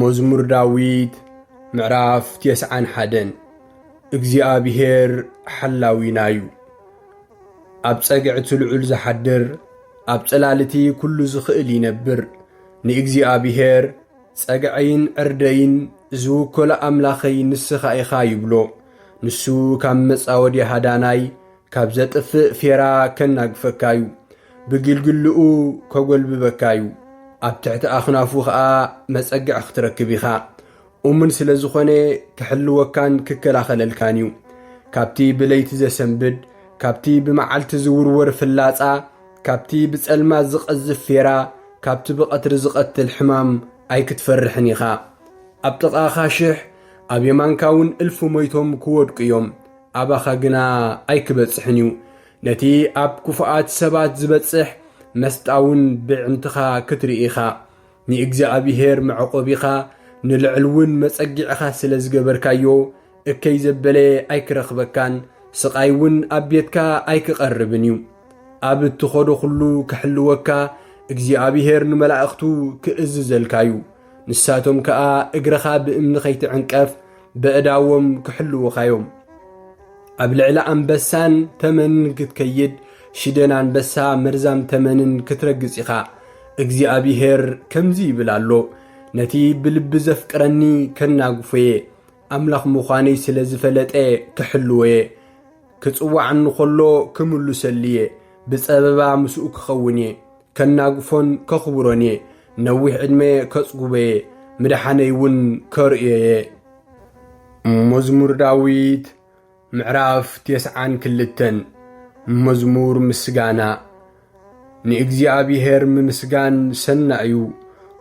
መዝሙር ዳዊት ምዕራፍ ቴስዓን ሓደን እግዚኣብሄር ሓላዊና እዩ፣ ኣብ ጸግዒ እቲ ልዑል ዝሓድር፣ ኣብ ጽላል እቲ ኵሉ ዝኽእል ይነብር። ንእግዚኣብሄር፣ ጸግዐይን ዕርደይን ዝውከሎ ኣምላኸይ ንስኻ ኢኻ ይብሎ። ንሱ ካብ መጻወድያ ሃዳናይ፣ ካብ ዘጥፍእ ፌራ ከናግፈካ እዩ፣ ብግልግልኡ ከጐልብበካ እዩ፣ ኣብ ትሕቲ ኣኽናፉ ኸኣ መጸግዒ ኽትረክብ ኢኻ። እሙን ስለ ዝዀነ ኪሕልወካን ኪከላኸለልካን እዩ። ካብቲ ብለይቲ ዘሰንብድ፣ ካብቲ ብመዓልቲ ዚውርወር ፍላጻ፣ ካብቲ ብጸልማት ዚቐዝፍ ፌራ፣ ካብቲ ብቐትሪ ዚቐትል ሕማም ኣይክትፈርሕን ኢኻ። ኣብ ጥቓኻ ሽሕ፣ ኣብ የማንካ እውን እልፊ ሞይቶም ኪወድቁ እዮም። ኣባኻ ግና ኣይክበጽሕን እዩ። ነቲ ኣብ ክፉኣት ሰባት ዝበጽሕ መስጣውን ብዕምትኻ ክትርኢ ኢኻ። ንእግዚኣብሔር መዕቆቢኻ ንልዕልውን መጸጊዕኻ ስለ ዝገበርካዮ እከይ ዘበለ ኣይክረኽበካን፣ ስቓይ እውን ኣብ ቤትካ ኣይክቐርብን እዩ። ኣብ እትኸዶ ዅሉ ክሕልወካ እግዚኣብሔር ንመላእኽቱ ክእዝዘልካ እዩ። ንሳቶም ከኣ እግርኻ ብእምኒ ኸይትዕንቀፍ በእዳዎም ክሕልዉኻዮም ኣብ ልዕሊ ኣንበሳን ተመንን ክትከይድ ሽደን ኣንበሳ መርዛም ተመንን ክትረግጽ ኢኻ እግዚኣብሄር ከምዚ ይብል ኣሎ ነቲ ብልቢ ዘፍቅረኒ ከናግፎ እየ ኣምላኽ ምዃነይ ስለ ዝፈለጠ ክሕልዎ እየ ክጽዋዕኒ ኸሎ ክምልሰሉ እየ ብጸበባ ምስኡ ክኸውን እየ ከናግፎን ከኽብሮን እየ፣ ነዊሕ ዕድመ ከጽጉቦ እየ፣ ምድሓነይ እውን ከርእዮ እየ። መዝሙር ዳዊት ምዕራፍ ቴስዓን ክልተን መዝሙር ምስጋና ንእግዚኣብሄር ምምስጋን ሰናይ እዩ።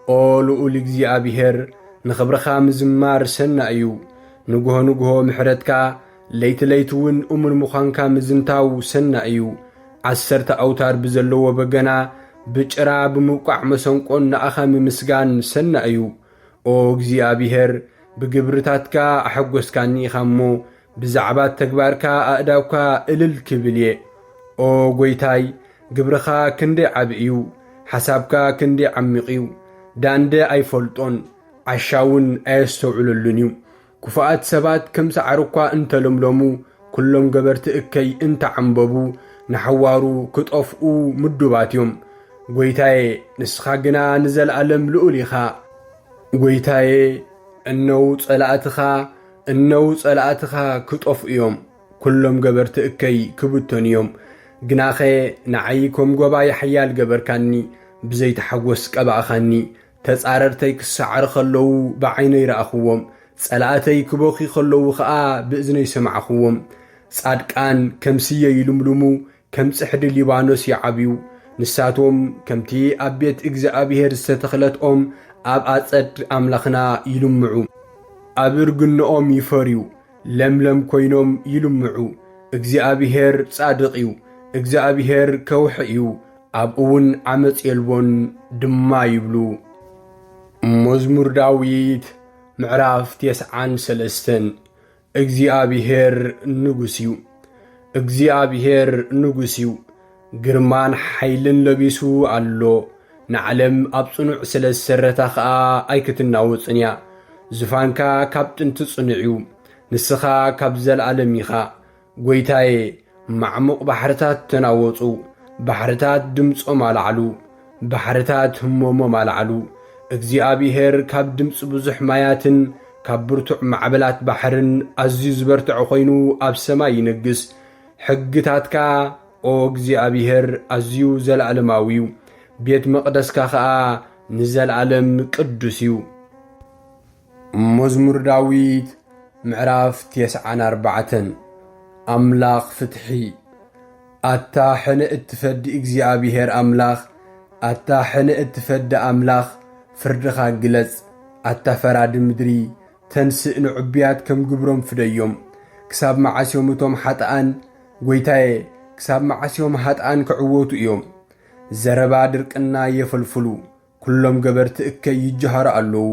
ኦ ልኡል እግዚኣብሄር ንኽብርኻ ምዝማር ሰናይ እዩ። ንግሆ ንግሆ ምሕረትካ ለይቲ ለይቲ እውን እሙን ምዃንካ ምዝንታው ሰናይ እዩ። ዓሰርተ ኣውታር ብዘለዎ በገና፣ ብጭራ፣ ብምውቃዕ መሰንቆን ንኣኻ ምምስጋን ሰናይ እዩ። ኦ እግዚኣብሄር፣ ብግብርታትካ ኣሐጐስካኒ ኢኻ እሞ፣ ብዛዕባ ተግባርካ ኣእዳውካ እልል ክብል እየ። ኦ ጐይታይ፣ ግብርኻ ክንደይ ዓቢ እዩ፣ ሓሳብካ ክንደይ ዓሚቝ እዩ! ዳንደ ኣይፈልጦን፣ ዓሻ እውን ኣየስተውዕለሉን እዩ። ክፉኣት ሰባት ከም ሳዕሪ እኳ እንተ ለምለሙ፣ ኵሎም ገበርቲ እከይ እንተ ዓምበቡ፣ ንሓዋሩ ኽጠፍኡ ምዱባት እዮም። ጐይታየ፣ ንስኻ ግና ንዘለኣለም ልኡል ኢኻ። ጐይታየ፣ እነዉ ጸላእትኻ፣ እነዉ ጸላእትኻ ኽጠፍኡ እዮም፣ ኵሎም ገበርቲ እከይ ክብተኑ እዮም። ግናኸ ንዓይ ከም ጎባዪ ሓያል ገበርካኒ፣ ብዘይቲ ሓጐስ ቀባእካኒ፣ ተጻረርተይ ክሰዓሩ ኸለዉ ብዓይነይ ረኣኹዎም፣ ጸላእተይ ክበኽዩ ኸለዉ ኸኣ ብእዝነይ ሰማዕኹዎም። ጻድቃን ከም ስየ ይልምልሙ፣ ከም ጽሕዲ ሊባኖስ ይዓብዩ። ንሳቶም ከምቲ ኣብ ቤት እግዚኣብሄር ዝተተኽለት ኦም ኣብ ኣጸድ ኣምላኽና ይልምዑ። ኣብ እርግነኦም ይፈርዩ፣ ለምለም ኰይኖም ይልምዑ። እግዚኣብሄር ጻድቕ እዩ፣ እግዚኣብሄር ከውሒ እዩ፣ ኣብኡውን ዓመጽ የልቦን ድማ ይብሉ። መዝሙር ዳዊት ምዕራፍ ቴስዓን ሰለስተን እግዚኣብሔር ንጉስ እዩ፣ እግዚኣብሔር ንጉስ እዩ፣ ግርማን ሓይልን ለቢሱ ኣሎ፣ ንዓለም ኣብ ጽኑዕ ስለ ዝሰረታ ኸኣ ኣይክትናወጽን እያ። ዙፋንካ ካብ ጥንቲ ጽኑዕ እዩ፣ ንስኻ ካብ ዘለኣለም ኢኻ። ጐይታየ፣ ማዕሙቕ ባሕርታት ተናወጹ፣ ባሕርታት ድምጾም ኣልዓሉ፣ ባሕርታት ህሞሞም ኣልዓሉ። እግዚኣብሄር ካብ ድምጺ ብዙሕ ማያትን ካብ ብርቱዕ ማዕበላት ባሕርን ኣዝዩ ዝበርትዐ ዀይኑ ኣብ ሰማይ ይነግስ። ሕግታትካ፣ ኦ እግዚኣብሄር፣ ኣዝዩ ዘለኣለማዊ እዩ፣ ቤት መቕደስካ ኸኣ ንዘለኣለም ቅዱስ እዩ። መዝሙር ዳዊት ምዕራፍ ቴስዓን ኣርባዕተን ኣምላኽ ፍትሒ ኣታ ሕነ እትፈዲ እግዚኣብሔር ኣምላኽ ኣታ ሕነ እትፈዲ ኣምላኽ ፍርድኻ ግለጽ ኣታ ፈራዲ ምድሪ ተንስእ ንዕቡያት ከም ግብሮም ፍደዮም ክሳብ መዓስ እዮም እቶም ሓጥኣን ጐይታየ ክሳብ መዓስ እዮም ሃጥኣን ክዕወቱ እዮም ዘረባ ድርቅና የፈልፍሉ ኵሎም ገበርቲ እከይ ይጀሃሩ ኣለዉ።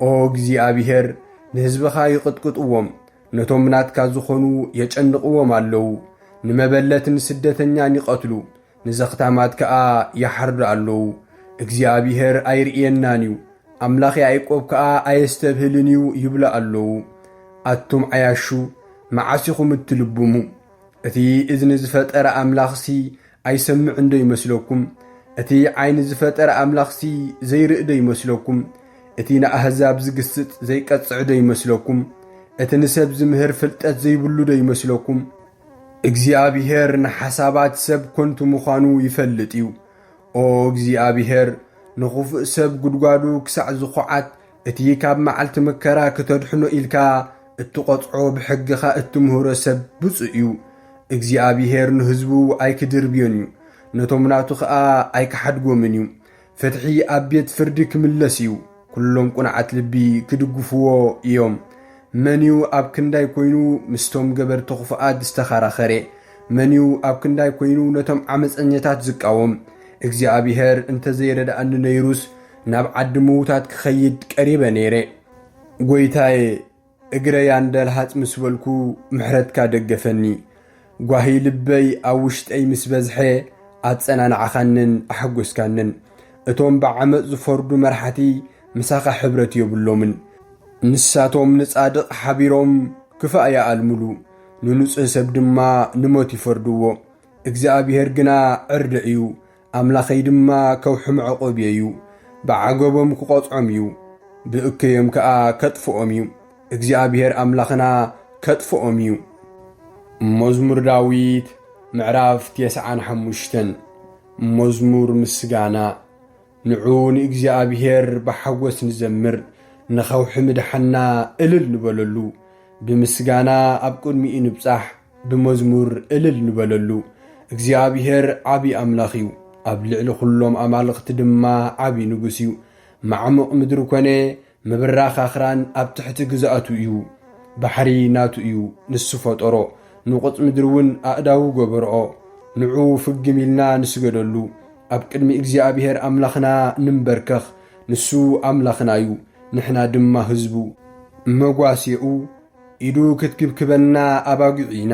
ኦ እግዚኣብሄር፣ ንህዝብኻ ይቕጥቅጥዎም፣ ነቶም ናትካ ዝዀኑ የጨንቕዎም ኣለዉ። ንመበለትን ስደተኛን ይቐትሉ፣ ንዘኽታማት ከኣ ይሓርዱ ኣለዉ። እግዚኣብሄር ኣይርእየናን እዩ፣ ኣምላኽ ያእቆብ ከኣ ኣየስተብህልን እዩ ይብሉ ኣለዉ። ኣቱም ዓያሹ፣ መዓስ ኢኹም እትልብሙ? እቲ እዝኒ ዝፈጠረ ኣምላኽሲ ኣይሰምዕን ዶ ይመስለኩም? እቲ ዓይኒ ዝፈጠረ ኣምላኽሲ ዘይርኢ ዶ ይመስለኩም? እቲ ንኣህዛብ ዝግስጽ ዘይቀጽዕ ዶ ይመስለኩም? እቲ ንሰብ ዝምህር ፍልጠት ዘይብሉ ዶ ይመስለኩም? እግዚኣብሄር ንሓሳባት ሰብ ከንቱ ምዃኑ ይፈልጥ እዩ። ኦ እግዚኣብሄር፣ ንኽፉእ ሰብ ጕድጓዱ ክሳዕ ዝዅዓት፣ እቲ ካብ መዓልቲ መከራ ክተድሕኖ ኢልካ እትቆጽዖ ብሕግኻ እትምህሮ ሰብ ብጹእ እዩ። እግዚኣብሄር ንህዝቡ ኣይክድርብዮን እዩ፣ ነቶም ናቱ ኸኣ ኣይክሓድጎምን እዩ። ፍትሒ ኣብ ቤት ፍርዲ ክምለስ እዩ፣ ኵሎም ቅኑዓት ልቢ ክድግፍዎ እዮም። መን እዩ ኣብ ክንዳይ ኰይኑ ምስቶም ገበርቲ ኽፉኣት ዝተኸራኸረ? መን እዩ ኣብ ክንዳይ ኰይኑ ነቶም ዓመጸኛታት ዝቃወም? እግዚኣብሄር እንተ ዘይረድኣኒ ነይሩስ፣ ናብ ዓዲ ምዉታት ክኸይድ ቀሪበ ነይረ። ጐይታየ፣ እግረይ ኣንደልሃጽ ምስ በልኩ ምሕረትካ ደገፈኒ። ጓሂ ልበይ ኣብ ውሽጠይ ምስ በዝሐ ኣጸናናዕኻንን ኣሐጐስካንን። እቶም ብዓመጽ ዝፈርዱ መራሕቲ ምሳኻ ሕብረት የብሎምን። ንሳቶም ንጻድቕ ሓቢሮም ክፋእ ይኣልምሉ፣ ንንጹህ ሰብ ድማ ንሞት ይፈርድዎ። እግዚኣብሄር ግና ዕርዲ እዩ፣ ኣምላኸይ ድማ ከውሕም ዕቑብ እዩ፣ ብዓገቦም ክቖጽዖም እዩ፣ ብእከዮም ከኣ ከጥፍኦም እዩ፣ እግዚኣብሄር ኣምላኽና ከጥፍኦም እዩ። መዝሙር ዳዊት ምዕራፍ ቴስዓን ሓሙሽተን መዝሙር ምስጋና ንዑ ንእግዚኣብሄር ብሓጐስ ንዘምር፣ ንኸውሒ ምድሓና እልል ንበለሉ፣ ብምስጋና ኣብ ቅድሚኡ ንብጻሕ፣ ብመዝሙር እልል ንበለሉ እግዚኣብሄር ዓቢ ኣምላኽ እዩ ኣብ ልዕሊ ዅሎም ኣማልኽቲ ድማ ዓቢ ንጉስ እዩ። ማዕሙቕ ምድሪ ኰነ ምብራኽ ኣኽራን ኣብ ትሕቲ ግዝኣቱ እዩ። ባሕሪ ናቱ እዩ፣ ንሱ ፈጠሮ፣ ንቑጽ ምድሪ እውን ኣእዳዉ ገበርኦ። ንዑ ፍግም ኢልና ንስገደሉ፣ ኣብ ቅድሚ እግዚኣብሄር ኣምላኽና ንንበርከኽ፣ ንሱ ኣምላኽና እዩ፣ ንሕና ድማ ህዝቡ። መጓስየኡ ኢዱ ክትግብክበና ኣባጒዕ ኢና።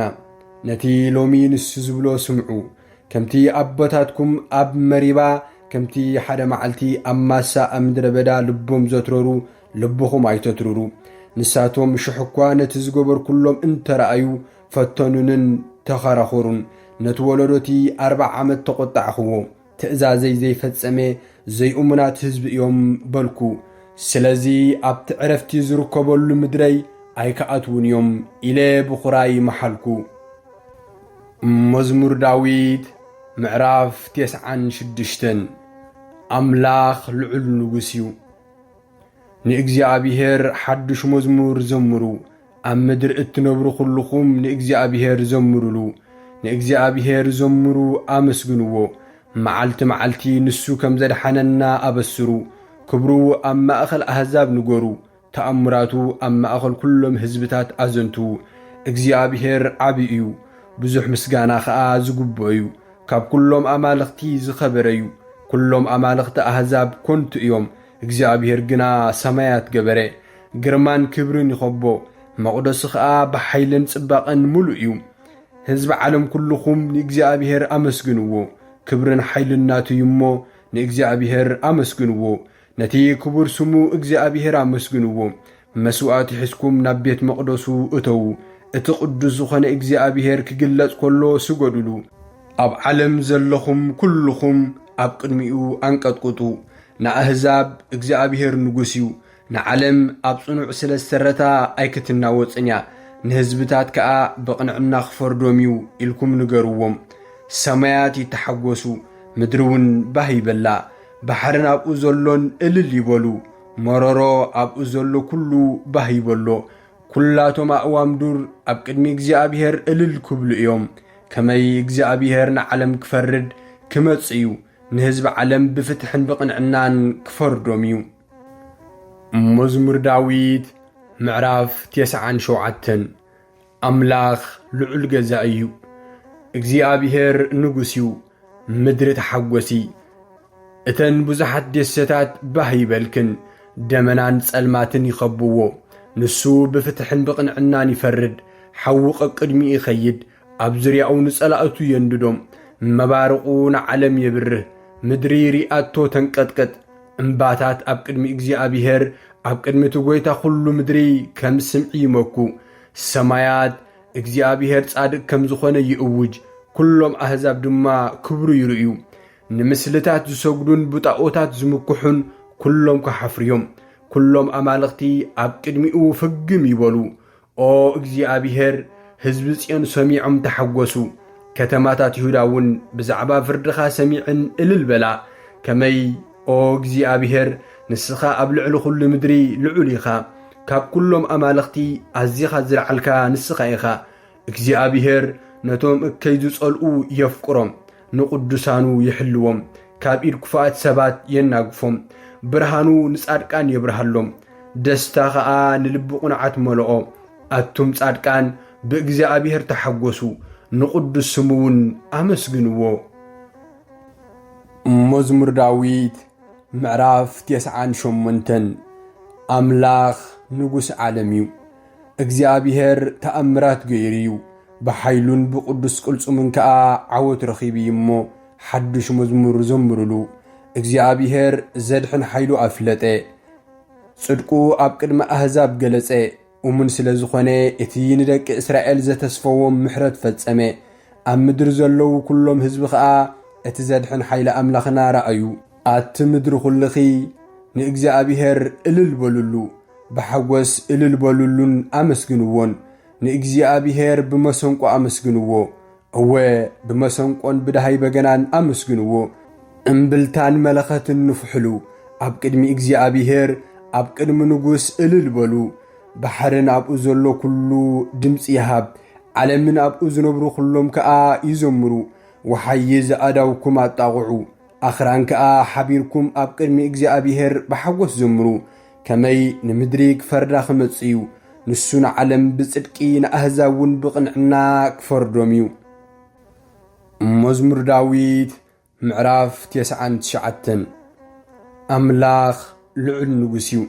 ነቲ ሎሚ ንሱ ዝብሎ ስምዑ። ከምቲ ኣቦታትኩም ኣብ መሪባ፣ ከምቲ ሓደ መዓልቲ ኣብ ማሳ ኣብ ምድረ በዳ ልቦም ዘትረሩ፣ ልብኹም ኣይተትርሩ። ንሳቶም ሽሕ እኳ ነቲ ዝገበርኩሎም እንተ ረኣዩ፣ ፈተኑንን ተኸራኸሩን። ነቲ ወለዶ እቲ ኣርብዓ ዓመት ተቖጣዕኽዎ። ትእዛዘይ ዘይፈጸመ ዘይእሙናት ህዝቢ እዮም በልኩ። ስለዚ ኣብቲ ዕረፍቲ ዝርከበሉ ምድረይ ኣይክኣትዉን እዮም ኢለ ብኹራይ መሓልኩ። መዝሙር ዳዊት ምዕራፍ ቴስዓን ሽዱሽተን ኣምላኽ ልዑል ንጉስ እዩ። ንእግዚኣብሔር ሓድሽ መዝሙር ዘምሩ፣ ኣብ ምድሪ እትነብሩ ዅልኹም ንእግዚኣብሄር ዘምሩሉ፣ ንእግዚኣብሄር ዘምሩ፣ ኣመስግንዎ። መዓልቲ መዓልቲ ንሱ ከም ዘድሓነና ኣበስሩ። ክብሩ ኣብ ማእከል ኣህዛብ ንገሩ፣ ተኣምራቱ ኣብ ማእከል ኵሎም ህዝብታት ኣዘንትዉ። እግዚኣብሄር ዓቢ እዩ፣ ብዙሕ ምስጋና ኸኣ ዝግብኦ እዩ። ካብ ኵሎም ኣማልኽቲ ዝኸበረ እዩ። ኵሎም ኣማልኽቲ ኣህዛብ ኰንቱ እዮም። እግዚኣብሄር ግና ሰማያት ገበረ፣ ግርማን ክብርን ይኸቦ፣ መቕደሱ ኸኣ ብሓይልን ጽባቐን ምሉእ እዩ። ህዝቢ ዓለም ኩሉኹም ንእግዚኣብሄር ኣመስግንዎ፣ ክብርን ሓይልን ናቱ እዩ እሞ፣ ንእግዚኣብሄር ኣመስግንዎ። ነቲ ክቡር ስሙ እግዚኣብሄር ኣመስግንዎ፣ መስዋእቲ ሒዝኩም ናብ ቤት መቕደሱ እተዉ፣ እቲ ቕዱስ ዝዀነ እግዚኣብሄር ኪግለጽ ከሎ ስገዱሉ። ኣብ ዓለም ዘለኹም ኵልኹም ኣብ ቅድሚኡ ኣንቀጥቍጡ። ንኣህዛብ፣ እግዚኣብሄር ንጉስ እዩ። ንዓለም ኣብ ጽኑዕ ስለ ዝሰረታ ኣይክትናወጽን እያ፣ ንህዝብታት ከኣ ብቕንዕና ኺፈርዶም እዩ ኢልኩም ንገርዎም። ሰማያት ይተሓጐሱ፣ ምድሪውን ባህ ይበላ፣ ባሕርን ኣብኡ ዘሎን እልል ይበሉ። መረሮ ኣብኡ ዘሎ ኩሉ ባህ ይበሎ፣ ኩላቶም ኣእዋም ዱር ኣብ ቅድሚ እግዚኣብሔር እልል ክብሉ እዮም። ከመይ እግዚኣብሔር ንዓለም ክፈርድ ክመጽእ እዩ፣ ንህዝቢ ዓለም ብፍትሕን ብቕንዕናን ክፈርዶም እዩ። መዝሙር ዳዊት ምዕራፍ ቴስዓን ሸውዓተን ኣምላኽ ልዑል ገዛኢ እዩ፣ እግዚኣብሄር ንጉስ እዩ፣ ምድሪ ተሓጐሲ፣ እተን ብዙሓት ደሴታት ባህ ይበልክን፣ ደመናን ጸልማትን ይኸብዎ። ንሱ ብፍትሕን ብቕንዕናን ይፈርድ፣ ሓዊ ቀቅድሚኡ ይኸይድ፣ ኣብ ዙርያኡ ንጸላእቱ የንድዶም። መባርቑ ንዓለም የብርህ፣ ምድሪ ርኣቶ ተንቀጥቅጥ። እምባታት ኣብ ቅድሚ እግዚኣብሄር፣ ኣብ ቅድሚ እቲ ጐይታ ዅሉ ምድሪ ከም ስምዒ ይመኩ። ሰማያት፣ እግዚኣብሄር ጻድቅ ከም ዝኾነ ይእውጅ፣ ኵሎም ኣህዛብ ድማ ክብሩ ይርእዩ። ንምስልታት ዝሰግዱን ብጣኦታት ዝምክሑን ኵሎም ክሓፍሩ እዮም። ኵሎም ኣማልኽቲ ኣብ ቅድሚኡ ፍግም ይበሉ። ኦ እግዚኣብሄር፣ ህዝቢ ጽዮን ሰሚዖም ተሓጐሱ፣ ከተማታት ይሁዳ እውን ብዛዕባ ፍርድኻ ሰሚዐን እልል በላ። ከመይ ኦ እግዚኣብሄር፣ ንስኻ ኣብ ልዕሊ ዅሉ ምድሪ ልዑል ኢኻ፣ ካብ ኵሎም ኣማልኽቲ ኣዚኻ ዝለዓልካ ንስኻ ኢኻ። እግዚኣብሄር ነቶም እከይ ዝጸልኡ የፍቅሮም፣ ንቕዱሳኑ ይሕልዎም፣ ካብ ኢድ ክፉኣት ሰባት የናግፎም። ብርሃኑ ንጻድቃን የብርሃሎም፣ ደስታ ኸኣ ንልቢ ቕኑዓት መለኦ። ኣቱም ጻድቃን፣ ብእግዚኣብሄር ተሓጐሱ፣ ንቕዱስ ስሙ እውን ኣመስግንዎ። መዝሙር ዳዊት ምዕራፍ ቴስዓን ሸሞንተን ኣምላኽ ንጉስ ዓለም እዩ እግዚኣብሔር ተኣምራት ገይሩ እዩ ብሓይሉን ብቅዱስ ቅልፁምን ከዓ ዓወት ረኺቡ እዩ እሞ ሓዱሽ መዝሙር ዘምርሉ እግዚኣብሔር ዘድሕን ሓይሉ ኣፍለጠ ፅድቁ ኣብ ቅድሚ ኣህዛብ ገለፀ እሙን ስለ ዝኾነ፣ እቲ ንደቂ እስራኤል ዘተስፈዎም ምሕረት ፈጸመ። ኣብ ምድሪ ዘለዉ ኵሎም ህዝቢ ኸኣ እቲ ዘድሕን ሓይሊ ኣምላኽና ረኣዩ። ኣቲ ምድሪ ዅልኺ፣ ንእግዚኣብሄር እልል በሉሉ፣ ብሓጐስ እልል በሉሉን ኣመስግንዎን። ንእግዚኣብሄር ብመሰንቆ ኣመስግንዎ፣ እወ ብመሰንቆን ብደሃይ በገናን ኣመስግንዎ፣ እምብልታን መለኸትን ንፍሑሉ፣ ኣብ ቅድሚ እግዚኣብሄር፣ ኣብ ቅድሚ ንጉስ እልል በሉ። ባሕርን ኣብኡ ዘሎ ኩሉ ድምጺ ይሃብ፣ ዓለምን ኣብኡ ዝነብሩ ኩሎም ከኣ ይዘምሩ። ወሓይዝ ኣእዳውኩም ኣጣቕዑ፣ ኣኽራን ከኣ ሓቢርኩም ኣብ ቅድሚ እግዚኣብሄር ብሓጎስ ዘምሩ። ከመይ ንምድሪ ክፈርዳ ክመጽእ እዩ፣ ንሱ ንዓለም ብጽድቂ ንኣህዛብ እውን ብቕንዕና ክፈርዶም እዩ። መዝሙር ዳዊት ምዕራፍ ቴስዓን ትሽዓተን ኣምላኽ ልዑል ንጉስ እዩ፣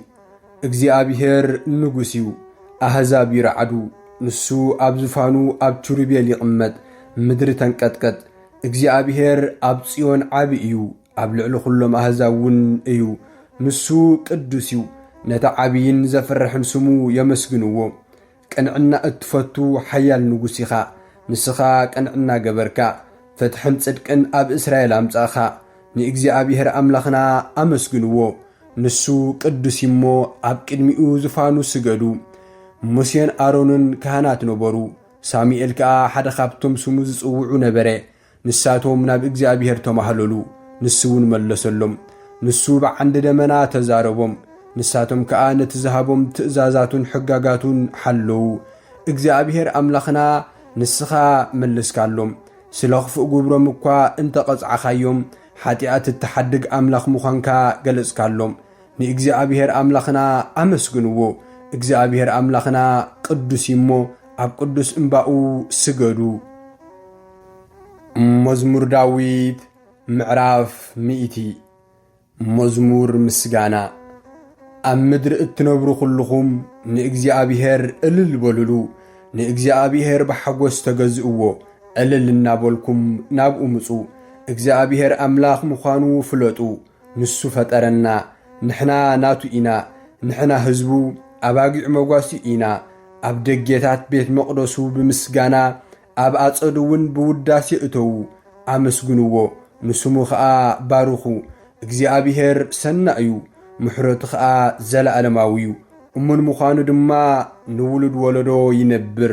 እግዚኣብሔር ንጉስ እዩ፣ ኣህዛብ ይረዓዱ፣ ንሱ ኣብ ዝፋኑ ኣብ ኪሩቤል ይቕመጥ፣ ምድሪ ተንቀጥቀጥ። እግዚኣብሔር ኣብ ጽዮን ዓቢ እዩ፣ ኣብ ልዕሊ ዅሎም ኣህዛብ እውን እዩ፣ ንሱ ቅዱስ እዩ። ነቲ ዓብይን ዘፍርሕን ስሙ የመስግንዎ። ቅንዕና እትፈቱ ሓያል ንጉስ ኢኻ፣ ንስኻ ቅንዕና ገበርካ፣ ፍትሕን ጽድቅን ኣብ እስራኤል ኣምጻእካ። ንእግዚኣብሄር ኣምላኽና ኣመስግንዎ፣ ንሱ ቅዱስ እዩ እሞ፣ ኣብ ቅድሚኡ ዝፋኑ ስገዱ። ሙሴን ኣሮንን ካህናት ነበሩ፣ ሳሙኤል ከኣ ሓደ ኻብቶም ስሙ ዝጽውዑ ነበረ። ንሳቶም ናብ እግዚኣብሔር ተማህለሉ፣ ንሱውን መለሰሎም። ንሱ ብዓንዲ ደመና ተዛረቦም፣ ንሳቶም ከኣ ነቲ ዝሃቦም ትእዛዛቱን ሕጋጋቱን ሓለዉ። እግዚኣብሔር ኣምላኽና ንስኻ መልስካሎም፣ ስለ ኽፉእ ግብሮም እኳ እንተ ቐጻዕኻዮም፣ ሓጢኣት እትሓድግ ኣምላኽ ምዃንካ ገለጽካሎም። ንእግዚኣብሔር ኣምላኽና ኣመስግንዎ፣ እግዚኣብሔር ኣምላኽና ቅዱስ እዩ እሞ፣ ኣብ ቅዱስ እምባኡ ስገዱ። መዝሙር ዳዊት ምዕራፍ ሚእቲ መዝሙር ምስጋና ኣብ ምድሪ እትነብሩ ዅልኹም ንእግዚኣብሄር እልል በልሉ፣ ንእግዚኣብሄር ብሓጐስ ተገዝእዎ፣ እልል እናበልኩም ናብኡ ምጹ። እግዚኣብሄር ኣምላኽ ምዃኑ ፍለጡ፣ ንሱ ፈጠረና፣ ንሕና ናቱ ኢና፣ ንሕና ህዝቡ ኣባጊዕ መጓሲ ኢና። ኣብ ደጌታት ቤት መቕደሱ ብምስጋና ኣብ ኣጸዱ እውን ብውዳሴ እተዉ፣ ኣመስግንዎ፣ ንስሙ ኸኣ ባርኹ። እግዚኣብሄር ሰናይ እዩ፣ ምሕረቱ ኸኣ ዘለኣለማዊ እዩ፣ እሙን ምዃኑ ድማ ንውሉድ ወለዶ ይነብር።